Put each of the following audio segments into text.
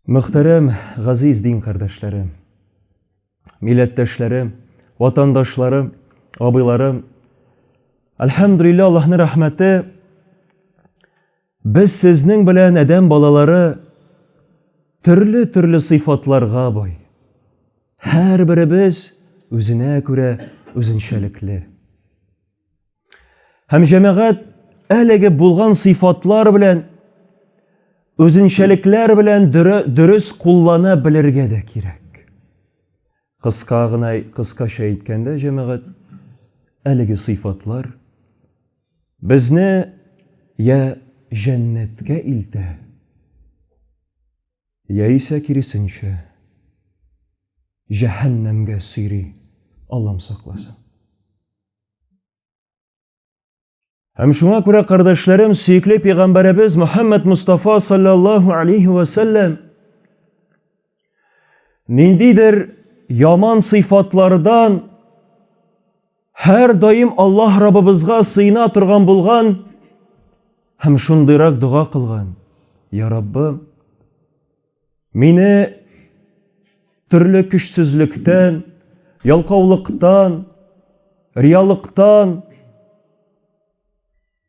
Мөхтәрәм газиз дин кардәшләре, милләттәшләре, ватандашлары, абыйлары, Альхамдулилла, Аллаһның рәхмәте Без сезнең белән, адәм балалары, төрле-төрле сыйфатларга бай. Һәрберебез үзенә күрә үзенчәлекле. Һәм җәмәгать әлеге булган сыйфатлар белән үзенчәлекләр белән дөрес куллана белергә дә кирәк. Кыска гына, кыскача әйткәндә, җәмәгать, әлеге сыйфатлар Безне йә җәннәткә илтә, яисә киресенчә, җәһәннәмгә сөйри, Аллам сакласын. Һәм шуңа күрә, кардәшләрем, сөекле пәйгамбәребез Мөхәммәд Мустафа саллаллаһу алейһи ва сәлләм Ниндидер яман сыйфатлардан һәр даим Аллаһ Раббыбызга сыйна торган булган һәм шундыйрак дога кылган. Я Раббым, мине төрле көчсезлектән, ялкаулыктан, риялыктан,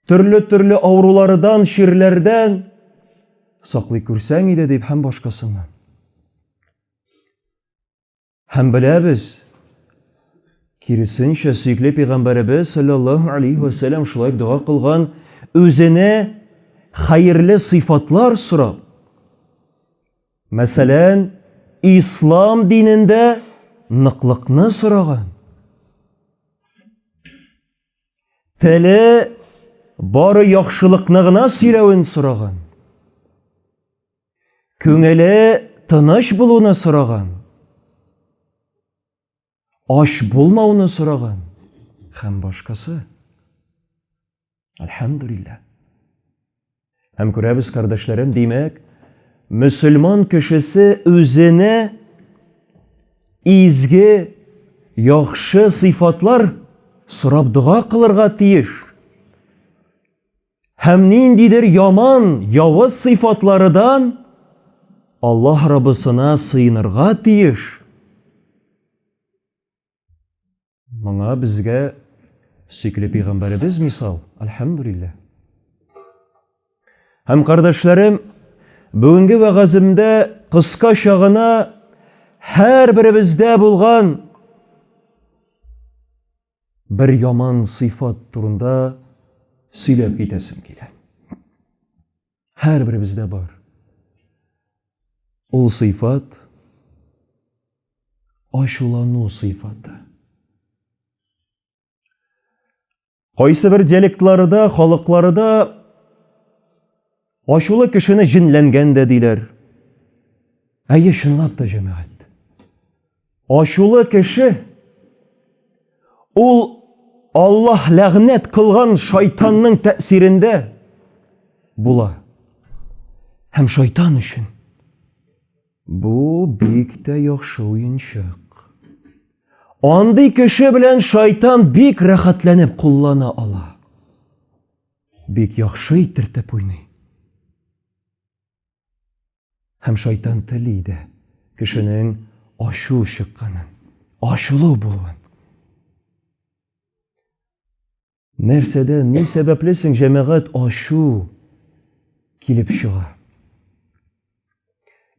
төрле-төрле авыруларыдан, чирләрдән саклый күрсәң иде дип һәм башкасыннан. Һәм беләбез, киресенчә, сөекле пәйгамбәребез саллаллаһу алейхи ва саллям шулай дога кылган, үзенә хәерле сыйфатлар сорап. Мәсәлән, ислам динендә ныклыкны сораган. Теле бары яхшылыкны гына сөйләвен сораган. Күңеле тыныч булуны сораган. Ач булмауны сораган һәм башкасы. Альхамдулилла. Һәм күрәбез, кардәшләрем, димәк, мөселман кешесе үзенә изге, яхшы сыйфатлар сорап дога кылырга тиеш. Һәм ниндидер яман, явыз сыйфатларыдан Аллаһ Раббысына сыенырга тиеш. Моңа безгә сөйкле пәйгамбәребез мисал. Альхамдулиллаһ. Һәм кардәшләрем, бүгенге вәгаземдә кыска чагына һәр беребездә булган бер яман сыйфат турында сөйләп китәсем килә. Һәрберебездә бар. Ул сыйфат ачулану сыйфаты. Кайсы бер диалектларда, халыкларда ачулы кешене җенләнгән дә диләр. Әйе, чынлап та җәмәгать. Ачулы кеше ул Аллаһ ләгънәт кылган шайтанның тәэсирендә була. Һәм шайтан өчен бу бик тә яхшы уенчык. Андый кеше белән шайтан бик рәхәтләнеп куллана ала. Бик яхшы итертеп уйный. Һәм шайтан тели дә кешенең ачу чыкканын, ачулы булуын. Нәрсәдән, ни сәбәпле соң җәмәгать ачу килеп чыга?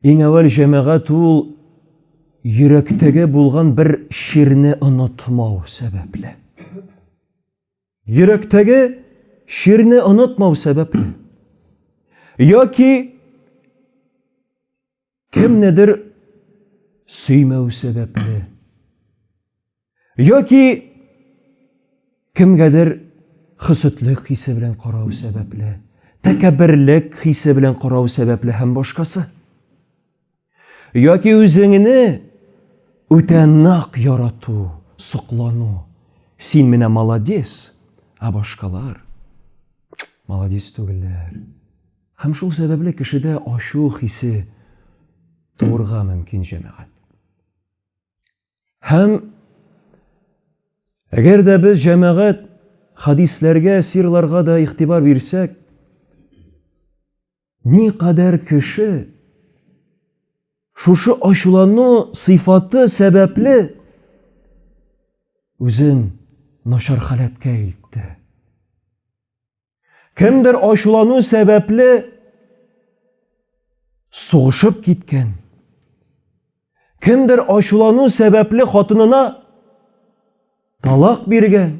Иң әүвәл җәмәгать ул йөрәктәге булган бер чирне онытмау сәбәпле. Йөрәктәге чирне онытмау сәбәпле. Яки кемнедер сөймәү сәбәпле. Яки кемгәдер хөсетлек хисе белән карау сәбәпле, тәкәбберлек хисе белән карау сәбәпле һәм башкасы. Яки үзеңне үтә нак ярату, соклану. Син менә молодец, а башкалар молодец түгелләр. Һәм шул сәбәпле кешедә ачу хисе туырга мөмкин җәмәгать. Һәм әгәр дә без җәмәгать хадисләргә, сирларга да игътибар бирсәк, Никадәр кеше шушы ачулану сыйфаты сәбәпле үзен начар халәткә илтте. Кемдер ачулану сәбәпле сугышып киткән. Кемдер ачулану сәбәпле хатынына талак биргән.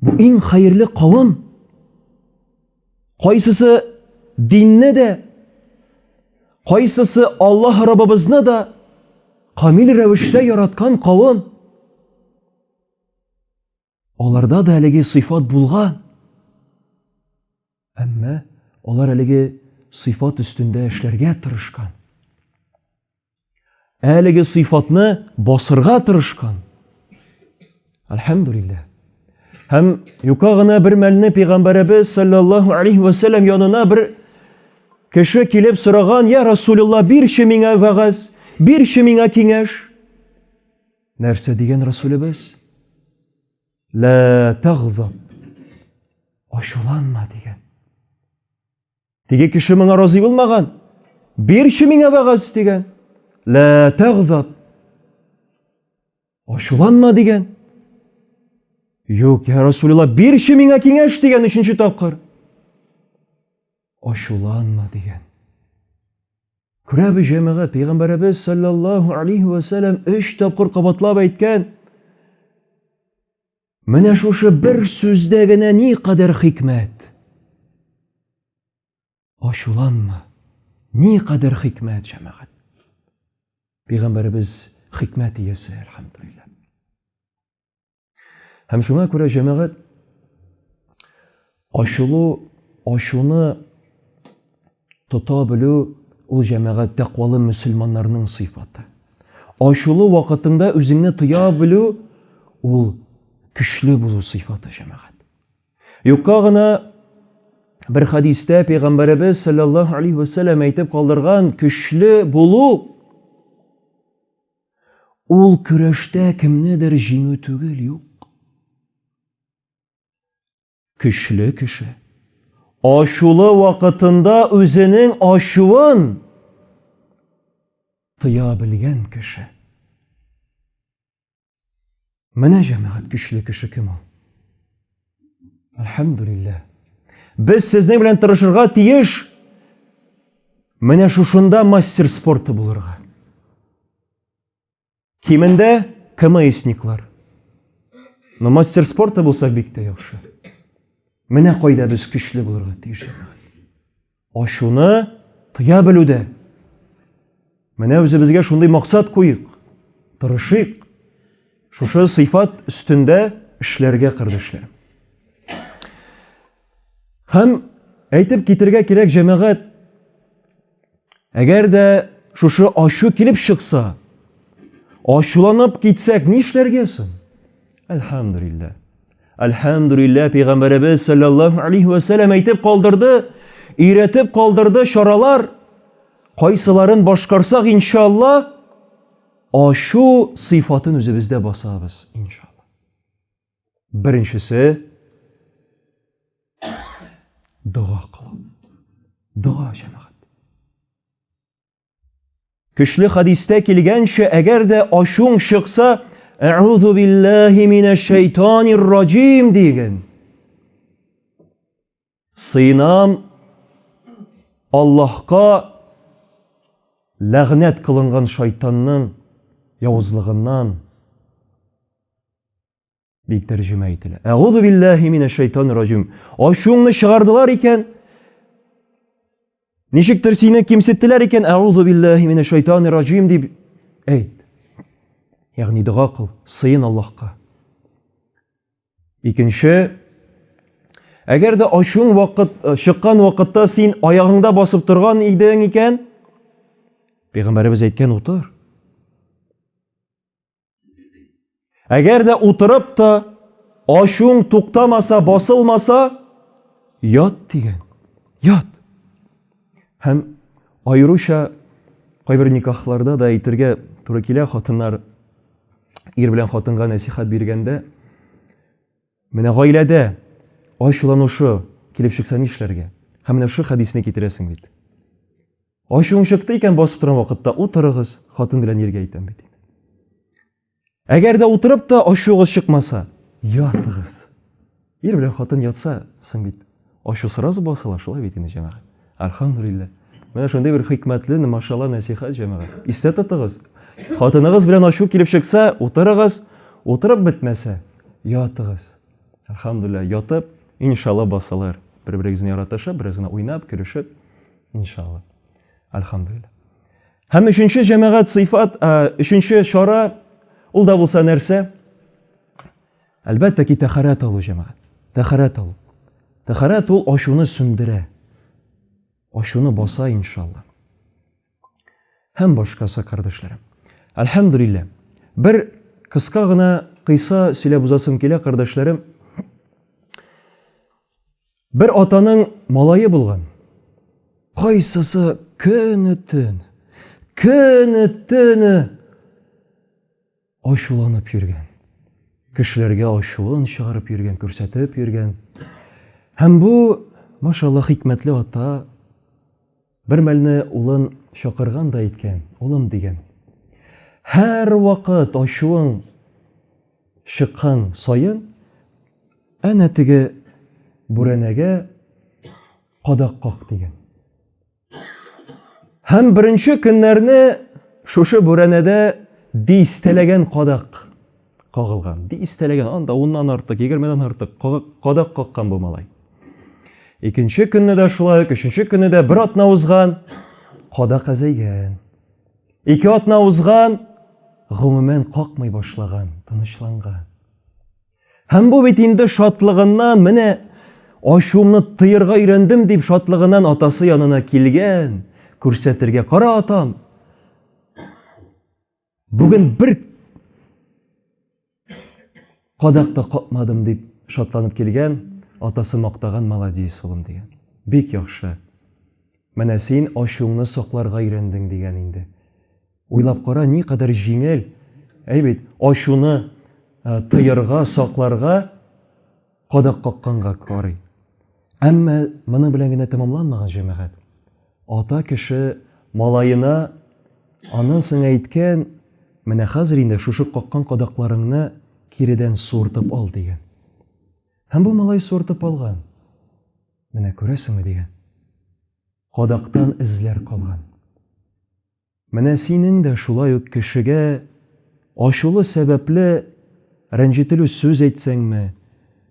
Бу иң хәерле кавым. Кайсысы динне дә, кайсысы Аллаһ Раббыбызны да камил рәвештә яраткан кавым. Аларда да әлеге сыйфат булган. Әмма алар әлеге сыйфат өстендә эшләргә тырышкан. Әлеге сыйфатны басырга тырышкан. Альхамдулиллах. Һәм юка гына бер мәлне пәйгамбәребез саллаллаһу алейхи ва саллям янына бер кеше килеп сораган, "Я Расулулла, бирче миңа вагаз, бирче миңа киңәш". Нәрсә дигән Расулебез? Лә тагзаб. Ачуланма дигән. Теге кеше моңа разый булмаган. Бирче миңа вәгазь дигән. Лә тагзаб. Ачуланма дигән. Юк, я Расулилла, бирче миңа киңәш дигән өченче тапкыр. Ачуланма дигән. Күрә бу җәмәгать, пәйгамбәребез саллаллаһу алейхи ва сәлләм 3 тапкыр кабатлап әйткән. Менә шушы бер сүздә генә ни кадәр хикмәт. Ачуланма. Ни кадәр хикмәт җәмәгать. Пәйгамбәребез хикмәт иясе, әлхәмдулиллаһ. Һәм шуңа күрә җәмәгать ачылу, ачуны тота белү ул җәмәгать тәкъвалы мөселманнарның сыйфаты. Ачылу вакытында үзеңне тыя белү ул көчле булу сыйфаты җәмәгать. Юкка гына бер хадистә пәйгамбәребез саллаллаһу алейхи вәсәлләм әйтеп калдырган көчле булу Ул көрәштә кемнедер җиңү түгел, юк. Көчле кеше ачулы вакытында үзенең ачуын тыя белгән кеше. Менә җәмәгать көчле кеше кем ул? Әлхәмдүлилләһ. Без сезнең белән тырышырга тиеш. Менә шушында мастер спорты булырга. Кимендә КМСниклар. Но мастер спорта булсак бик тә яхшы. Менә кайда без көчле булырга тиеш. Ачуны тыя белүдә. Менә үзебезгә шундый максат куйык, тырышыйк. Шушы сыйфат өстендә эшләргә кардәшләр. Һәм әйтеп китергә кирәк җәмәгать, әгәр дә шушы ачу килеп чыкса, ачуланып китсәк, нишләргә соң? Әлхәмдулиллаһ. Әлхәмдүлиллә, пәйгамбәребез саллаллаһу алейхи ва сәлләм әйтеп калдырды, өйрәтеп калдырды чаралар. Кайсыларын башкарсак, иншалла, ашу сыйфатын үзебездә басабыз, иншалла. Беренчесе дога кылу. Дога җәмәгать. Көчле хәдистә килгәнчә, әгәр дә ачуң чыкса, Әгъузу биллаһи минәш шәйтанир раҗим диген. Сыйнам Аллаһка ләгънәт кылынган шайтанның явызлыгыннан. дип тәрҗемә ителә. Әгузу биллаһи минәш шайтанир раҗим. Ачуыңны чыгардылар икән. Ничектер сине кимсеттеләр икән. Әгузу биллаһи минәш шайтанир раҗим дип әйт. Ягъни дога кыл, сыен Аллаһка. Икенче Әгәр дә ачуың вакыт э, чыккан вакытта син аягыңда басып торган идең икән, Пәйгамбәребез әйткән утыр. Әгәр дә утырып та ачуың туктамаса, басылмаса, ят дигән. Ят. Һәм аеруча кайбер никахларда да әйтергә туры килә, хатыннар ир белән хатынга нәсихат биргәндә, менә гаиләдә ачуланушы килеп чыкса нишләргә? Һәм менә шул хәдисне китерәсең бит. Ачуың чыкты икән, басып торган вакытта утырыгыз, хатын белән иргә әйтәм бит. Әгәр дә утырып та ачуыгыз чыкмаса, ятыгыз. Ир белән хатын ятса, соң бит ачу сразу басыла, шулай бит инде җәмәгать. Альхамдулилла. Менә шундый бер хикмәтле, машалла нәсихәт җәмәгать. Истә тотыгыз. Хатыныгыз белән ачу килеп чыкса, утырыгыз, утырып бетмәсә, ятыгыз. Альхамдулилла, ятып, иншалла басылыр. Бер-берегезне яратышып, бераз гына уйнап, көлешеп, Иншалла. Альхамдулилла. Һәм өченче җәмәгать сыйфат, өченче чара ул да булса нәрсә? Әлбәттә ки, тәхәрәт алу җәмәгать. Тәхәрәт алу. Тәхәрәт ул ачуны сүндерә. Ачуны баса иншалла. Һәм башкасы кардәшләрем. Альхамдулилла. Бер кыска гына кыйса сөйләп узасым килә, кардәшләрем. Бер атаның малае булган. Кайсысы көне-төн, көне-төне ачуланып йөргән. Кешеләргә ачуын чыгарып йөргән, күрсәтеп йөргән. Һәм бу, машалла, хикмәтле ата, Бер мәлне улын чакырган да әйткән, улым дигән. Һәр вакыт ачуың чыккан саен, әнә теге бүрәнәгә кадак как дигән. Һәм беренче көннәрне шушы бүрәнәдә дистәләгән кадак Кагылган. Дистәләгән, анда уннан артык, егермедән артык кадак каккан бу малай. Икенче көнне дә шулай ук, өченче көнне дә бер атна узган, кадак әзәйгән. Ике атна узган, гомумән какмый башлаган, тынычланган. Һәм бу бит инде шатлыгыннан, менә ачуымны тыерга өйрәндем дип шатлыгыннан атасы янына килгән, күрсәтергә, кара атам, Бүген бер кадак та капмадым дип шатланып килгән, атасы мактаган молодец улым дигән. Бик яхшы. Менә син ачуыңны сакларга өйрәндең дигән инде. Уйлап кара, ни кадәр җиңел. Әй бит, ачуны э, тыярга, сакларга кадак какканга карый. Әмма моның белән генә тәмамланмаган җәмәгать. Ата кеше малаена аннан соң әйткән, менә хәзер инде шушы каккан кадакларыңны киредән суыртып ал дигән. Һәм бу малай суыртып алган. Менә күрәсеңме дигән. Кадактан эзләр калган. Менә синең дә шулай ук кешегә ачулы сәбәпле рәнҗетелү сүз әйтсәңме,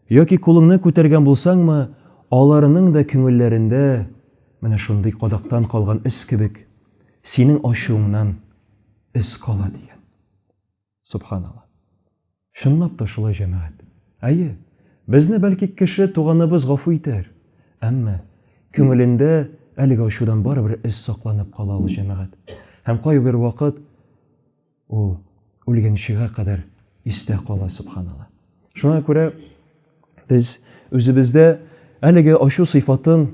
яки кулыңны күтәргән булсаңмы, аларның да күңелләрендә менә шундый кадактан калган эз кебек, синең ачуыңнан эз кала, дигән. Субханалла. Чынлап та шулай, җәмәгать. Әйе, безне бәлки кеше туганыбыз гафу итәр, әмма күңелендә әлеге ачудан барыбер эз сакланып кала ул, җәмәгать. Һәм кайбер вакыт ул үлгәнчегә кадәр истә кала, субханалла. Шуңа күрә Без үзебездә әлеге ачу сыйфатын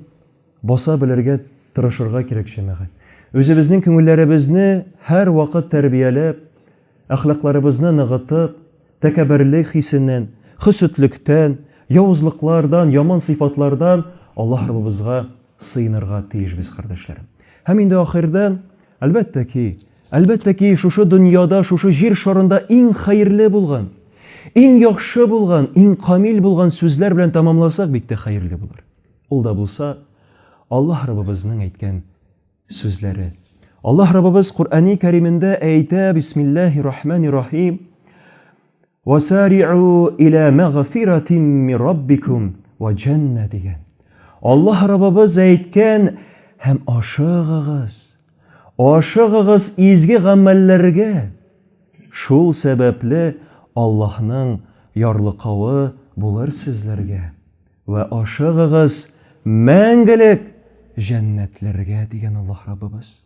баса белергә тырышырга кирәк, җәмәгать. Үзебезнең күңелләребезне һәрвакыт тәрбияләп, әхлакларыбызны ныгытып, тәкәбберлек хисеннән, хөсетлектән, явызлыклардан, яман сыйфатлардан Аллаһ Раббыбызга сыенырга тиешбез, кардәшләрем. Һәм инде ахырдан, әлбәттә ки, Әлбәттә ки, шушы дөньяда, шушы җир шарында иң хәерле булган, иң яхшы булган, иң камил булган сүзләр белән тәмамласак бик тә хәерле булыр. Ул да булса, Аллаһ Раббыбызның әйткән сүзләре. Аллаһ Раббыбыз Коръәни Кәримендә әйтә, Бисмиллаһи рахмани рахим, Васариу илә мәгъфиратим ми раббикум ва джанна дигән. Аллаһ Раббыбыз әйткән һәм ашыгыгыз. Ашыгыгыз изге гамәлләргә. Шул сәбәпле Аллаһның ярлыкавы булыр сезләргә. Вә ашыгыгыз мәңгелек җәннәтләргә дигән Аллаһ Раббыбыз.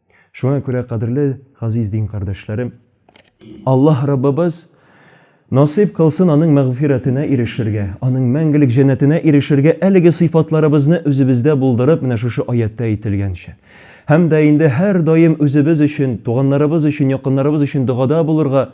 Шуңа күрә, кадерле газиз дин кардәшләрем, Аллаһ Раббыбыз насыйп кылсын Аның мәгъфирәтенә ирешергә, Аның мәңгелек җәннәтенә ирешергә әлеге сыйфатларыбызны үзебездә булдырып, менә шушы аятьтә әйтелгәнчә. Һәм дә инде һәрдаим үзебез өчен, туганнарыбыз өчен, якыннарыбыз өчен догада булырга,